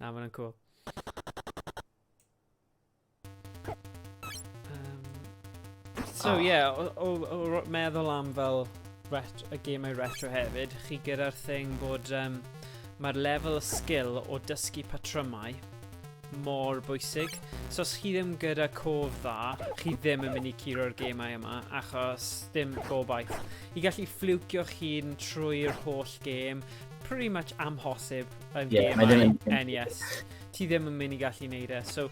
Na, mae'n cool. Um, so, ie, yeah, o, o, o, meddwl am fel ret y gemau retro hefyd, chi gyda'r thing bod um, mae'r lefel y sgil o dysgu patrymau mor bwysig. So os chi ddim gyda cof dda, chi ddim yn mynd i curo'r gemau yma, achos ddim gobaith. I gallu ffliwcio'ch hun trwy'r holl gêm, pretty much amhosib yn yeah, gymau NES. Ti ddim yn mynd i gallu neud e. So,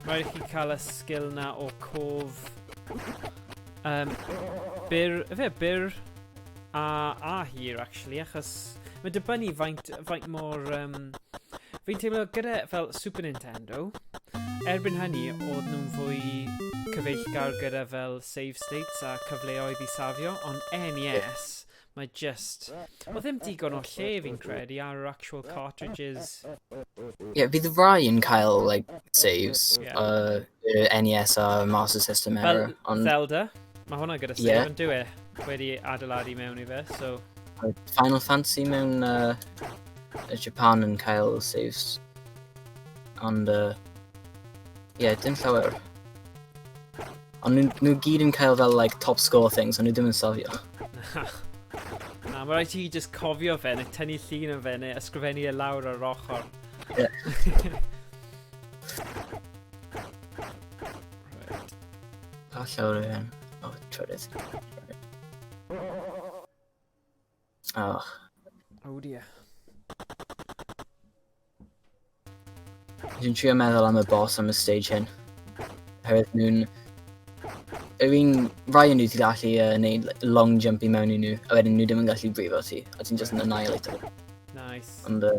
rhaid i chi cael y sgil na o cof... Um, byr... Fe, byr... A, a hir, actually, achos... Mae dibynnu faint, faint mor... Um, Fi'n teimlo gyda fel Super Nintendo, erbyn hynny, oedd nhw'n fwy cyfeillgar gyda fel save states a cyfleoedd i safio, ond NES, Mae just... Wel, ddim digon o lle fi'n credu ar yr actual cartridges. Yeah, fydd rai yn cael, like, saves. Yeah. Uh, y NES a Master System Fel era. Ond, Zelda, mae hwnna gyda save Ie. yn dwi e. Wedi adeiladu mewn i fe, so... uh, Final Fantasy mewn uh, y Japan yn cael saves. Ond, uh, Ie, yeah, dim llawer. Ond nhw, nhw gyd yn cael fel, like, top score things, ond nhw ddim yn safio. Na, mae rhaid ti just cofio fe, neu tynnu llun o fe, neu ysgrifennu e lawr ar yr ochr. Ie. Yeah. Pa llawr yw hyn? O, trydydd. Och. Oh dear. Dwi'n trio meddwl am y boss am y stage hyn. Herwydd nhw'n... Yr un rai nhw ti'n gallu uh, neud long jump i mewn i nhw, a wedyn nhw ddim yn gallu brifo ti, a ti'n just yn annihilate nhw. Nice. Ond... Uh,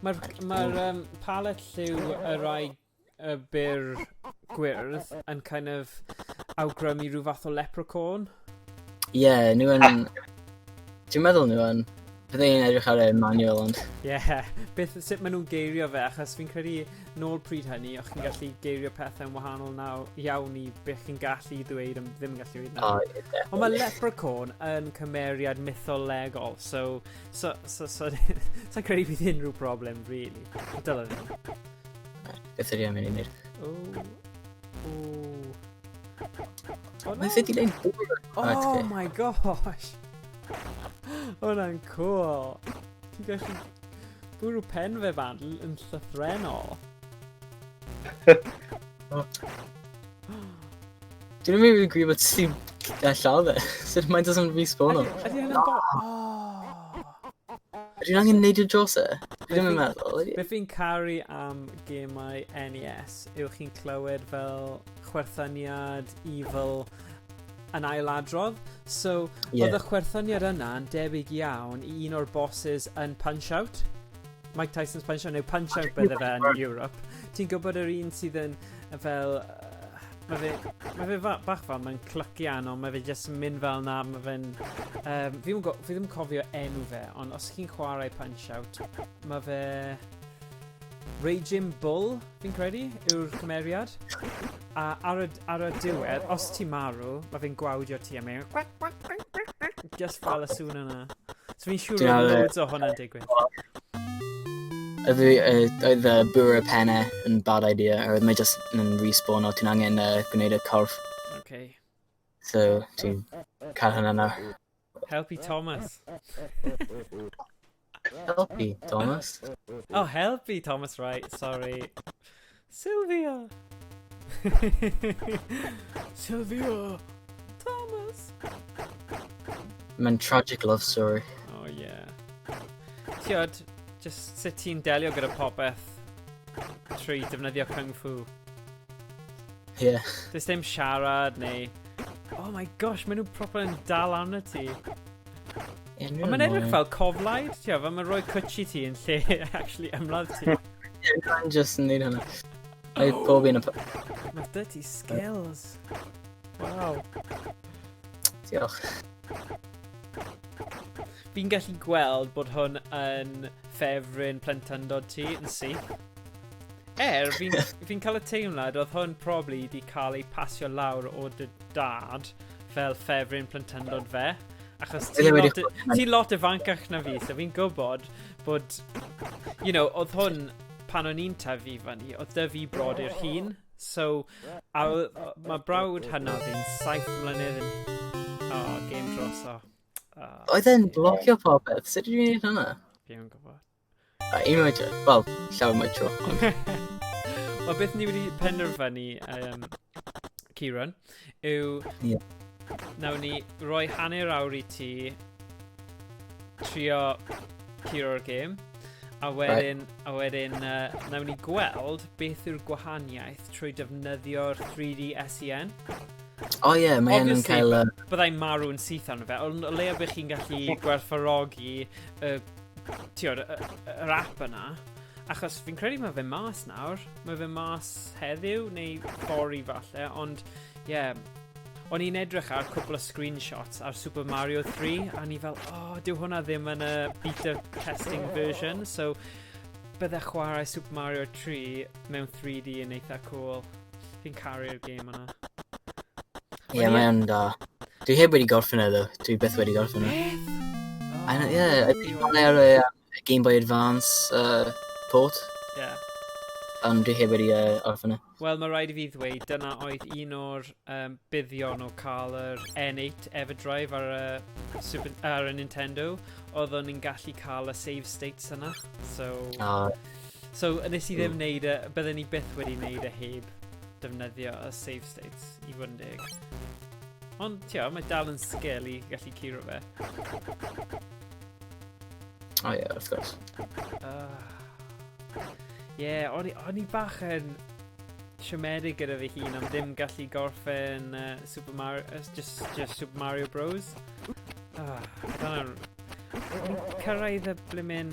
Mae'r ma um, palet lliw y rai y byr gwyrdd yn kind of awgrymu rhyw fath o leprechaun. Ie, yeah, nhw yn... Dwi'n meddwl nhw yn... Byddai'n edrych ar y manual ond... Ie, yeah. beth sut maen nhw'n geirio fe, achos fi'n credu nôl pryd hynny, o'ch chi'n gallu geirio pethau'n wahanol naw iawn i beth chi'n gallu ddweud am ddim yn gallu dweud nawr. Oh, yeah, Ond mae Leprechaun yn cymeriad mytholegol, so... so... so... so... so credu bydd unrhyw broblem, really. Dylan. Beth ydy am i ni'n O... O... O, Mae fe di neud Oh my gosh! Hwna'n cool! Ti'n gallu Bwrw pen fe fan yn llythrenol. Dwi'n mynd i'n gwybod sy'n llaw fe. Sut mae'n dod yn respawn o? Ydy hynna'n bo... Dwi'n angen neud y dros e. Dwi'n mynd meddwl. Beth fi'n caru am gemau NES yw chi'n clywed fel chwerthaniad, evil, yn ailadrodd. So, yeah. oedd y chwerthyniad yna yn debyg iawn i un o'r bosses yn Punch-Out. Mike Tyson's Punch-Out, neu Punch-Out bydde fe yn Europe. Ti'n gwybod yr un sydd yn fel... Uh, mae fe, ma fe fa, bach fel, mae'n clycian, ond mae fe jyst yn mynd fel na, mae fe'n... Um, fi, go, fi ddim cofio enw fe, ond os chi'n chwarae Punch-Out, mae fe... Raging Bull, fi'n credu, yw'r cymeriad. A ar y, ar y diwedd, os ti marw, mae fi'n gwawdio ti am ein... Just fel y sŵn yna. So fi'n siŵr bod loads o hwnna'n digwydd. Oedd y bwyr y pennau yn bad idea, a oedd mae just yn respawn o ti'n angen uh, gwneud y corff. Okay. So, ti'n cael hynna nawr. Helpu Thomas. Helpu Thomas. Oh, helpu Thomas, right, sorry. Sylvia! Sylvia! Thomas! Mae'n tragic love story. Oh, yeah. Tiod, just sut ti'n delio gyda popeth trwy defnyddio Kung Fu. Ie. Yeah. Does dim siarad neu... Oh my gosh, maen nhw'n proper yn dal arno ti. Ond mae'n edrych fel coflaid, ti'n gwybod, mae'n rhoi cwtsi ti yn lle actually ymladd ti. Mae'n just yn neud hynny. Mae pob un o... Mae dy ti skills. Wow. Diolch. Fi'n gallu gweld bod hwn yn ffefryn plentyndod ti yn syth. Er, fi'n fi cael y teimlad oedd hwn probably wedi cael ei pasio lawr o dy dad fel ffefryn plentyndod fe. Achos ti'n lot, ti lot ifancach na fi, so fi'n gwybod bod, you know, oedd hwn pan o'n i'n tyfu fyny, oedd dy fi brod i'r hun. So, a, mae brawd hynna fi'n saith mlynedd yn... Oh, game dros o. Oh, oedd e'n blogio popeth, sut dwi'n gwneud hynna? Fi'n gwybod. A un oed, wel, llawer mwy tro. Wel, beth ni wedi penderfynu, um, Kieran, yw... Yeah. Nawr ni roi hanner awr i ti trio curo'r gêm. A wedyn, right. a wedyn uh, nawn ni gweld beth yw'r gwahaniaeth trwy defnyddio'r 3D SEN. O oh, ie, yeah, mae hyn yn cael... Obviously, byddai'n marw'n syth arno fe, ond o leiaf bych chi'n gallu gwerthfarogi y Tiwr, yr app yna. Achos fi'n credu mae fe mas nawr. Mae fe mas heddiw neu fori falle, ond ie. Yeah. O'n i'n edrych ar cwpl o screenshots ar Super Mario 3 a ni fel, o, oh, dyw hwnna ddim yn y beta testing version, so bydde chwarae Super Mario 3 mewn 3D yn eitha cool. Fi'n caru'r game yna. Ie, yeah, mae'n da. Dwi heb wedi gorffen e, ddo. Dwi beth wedi gorffen e. Beth? Oh, ie, yeah, dwi'n ar y Game Boy Advance uh, port. Ie. Yeah. Ond dwi heb wedi uh, orffen e. Wel, mae rhaid i fi ddweud, dyna oedd un o'r um, buddion o cael yr N8 Everdrive ar y, Super, ar y Nintendo. Oeddwn ni'n gallu cael y save states yna. So, oh. So, nes i ddim mm. neud y... Bydden ni byth wedi neud y heb defnyddio y save states i fod yn deg. Ond, tio, mae dal yn sgil i gallu curo fe. O ie, wrth gwrs. Ah. Ie, o'n i bach yn siomedig gyda fi hun am ddim gallu gorffen uh, Super Mario, uh, just, just Super Mario Bros. Ah, dyna'n... Cyrraedd y blimin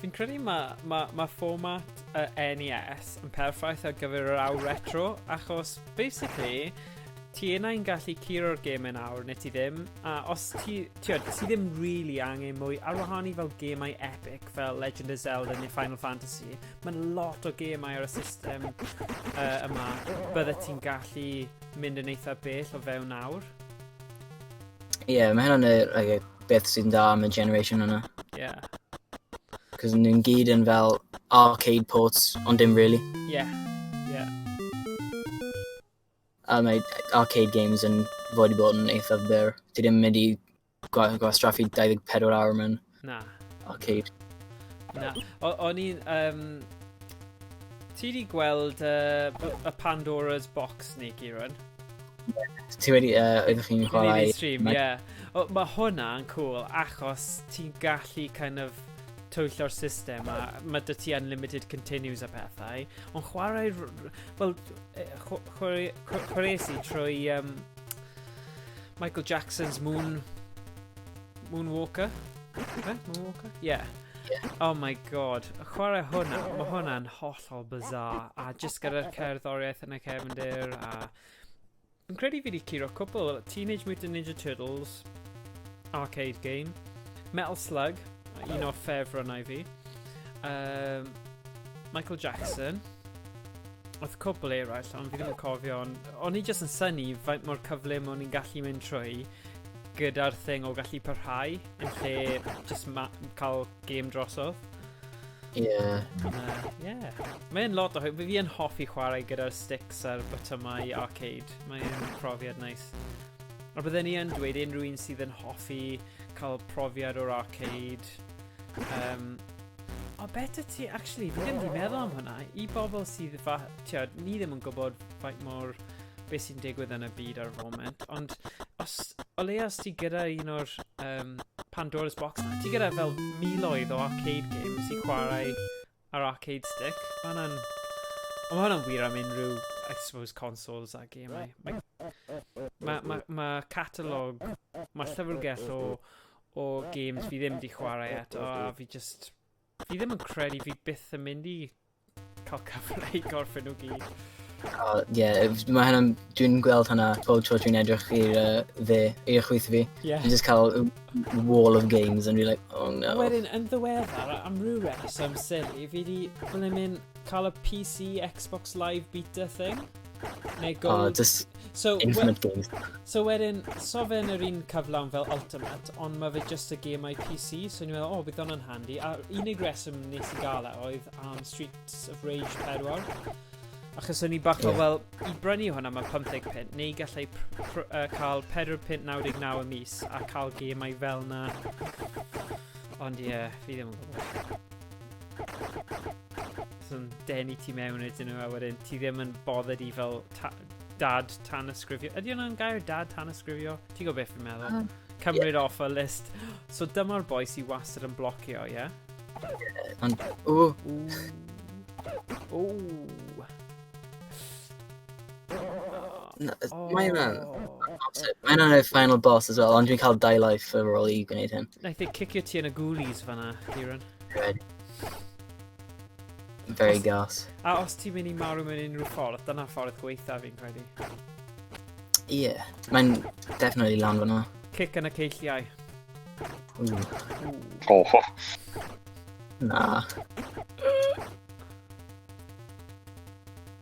Fi'n credu mae ma, ma fformat y NES yn perffaith ar gyfer yr awr retro, achos basically, ti yna yn gallu curo'r gêm yn awr neu ti ddim, a os ti, ti, ti ddim really angen mwy ar wahân i fel gêmau epic fel Legend of Zelda neu Final Fantasy, mae'n lot o gêmau ar y system uh, yma, bydde ti'n gallu mynd yn eitha bell o fewn awr. Ie, yeah, mae hynna'n yr like, beth sy'n dda am y generation yna. Ie. Yeah. Cos nhw'n gyd yn fel arcade ports, ond dim really. Ie. Yeah. Ie. Yeah. A mae arcade games yn fod i bod yn eithaf byr. Ti ddim mynd i gwastraffu 24 awr mewn Na. Arcade. Na. O'n i'n... Um, ti wedi gweld uh, y Pandora's Box ni, Kieran? Ti wedi... Uh, oeddech chi'n chwarae... stream, ie. Yeah. O, mae hwnna'n cool, achos ti'n gallu kind of twyllo'r system a mae dy ti unlimited continues a pethau. Ond chwarae... Wel, e, chwarae si trwy um, Michael Jackson's Moon Moonwalker? Fe? Moonwalker? Yeah. Oh my god, chwarae hwnna, mae hwnna'n hollol bizarre, a jyst gyda'r cerddoriaeth yn y cefndir, a... Yn credu fi wedi curo cwpl, Teenage Mutant Ninja Turtles, arcade game, Metal Slug, un o'r ffefrynnau fi, um, Michael Jackson, oedd cwpl eraill, ond fi ddim yn cofio, ond o'n i jyst yn syni faint mor cyflym o'n i'n gallu mynd trwy, gyda'r thing o gallu parhau yn lle just ma- cael game drosodd. Ie. Yeah. Uh, yeah. Mae'n lot o hwyl. Fi yn hoffi chwarae gyda'r sticks a'r botymau arcade. Mae'n profiad nais. A bydden ni yn dweud unrhyw un sydd yn hoffi cael profiad o'r arcade. Um, o, beth y ti, actually, fi ddim wedi meddwl am hwnna. I bobl sydd, fa, tiad, ni ddim yn gwybod faint mor beth sy'n digwydd yn y byd ar y foment, ond os, o leia os ti gyda un o'r um, Pandora's Box na, ti gyda fel miloedd o arcade games i chwarae ar arcade stick, mae hwnna'n... Ond mae hwnna'n wir am unrhyw, I suppose, consoles a gemau. Mae ma, ma, ma catalog, mae llyfrgell o, o games fi ddim di chwarae eto, a fi just... Fi ddim yn credu fi byth yn mynd i Coca Fly gorffen nhw gyd. Oh, yeah, mae hynna, dwi'n gweld hynna pob tro dwi'n edrych i'r uh, dde, i'r chwyth fi. Yeah. Dwi'n just cael wall of games and dwi'n like, oh no. Wedyn, yn ddiweddar, am rhyw reswm sili, fi di blymin cael y PC Xbox Live Beta thing. Neu oh, gold. Oh, just so, infinite we, games. So wedyn, so fe yn yr un cyflawn fel Ultimate, ond mae fe just y game I PC, so ni'n meddwl, o, oh, bydd o'n handi. A unig reswm nes i gael e oedd am Streets of Rage 4. Achos o'n i bach o, yeah. wel, i brynu hwnna mae 50 pint, neu gallai uh, cael 4 pint 99 y mis a cael gemau fel na. Ond ie, yeah, fi ddim yn gwybod. yn denu ti mewn ydyn nhw a wedyn ti ddim yn bothered i fel ta dad tan ysgrifio. Ydy hwnna'n gair dad tan ysgrifio? Ti'n gwybod beth fi'n meddwl? Uh, Cymryd yeah. off y list. So dyma'r boi sy'n wastad yn blocio, ie? Yeah? Ond, o. O. Mae yna... Mae yna y final boss as well, ond dwi'n cael dau life ar ôl i gwneud hyn. Naeth ei cicio ti yn y ghoulies fanna, Kieran. Red. Very os, gas. A os ti'n mynd i marw mewn unrhyw ffordd, dyna ffordd gweitha fi'n credu. Ie, yeah, mae'n definitely lan fyna. Cic yn y ceilliau. Ooh. Oh. Na.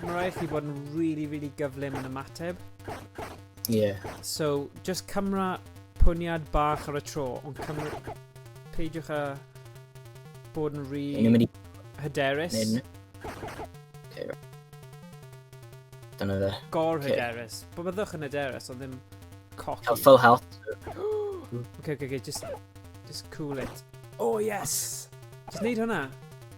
Mae'n rhaid chi bod yn really, really gyflym yn ymateb. Yeah. So, just cymra pwniad bach ar y tro, ond cymra... Peidiwch a bod yn rhi... Yn mynd i... Hyderus. Yn... Okay, right. Dyna fe. Gor okay. hyderus. Bo byddwch yn hyderus, ond ddim cocky. Cael full health. okay, okay, okay, just... Just cool it. Oh, yes! Just neud hwnna.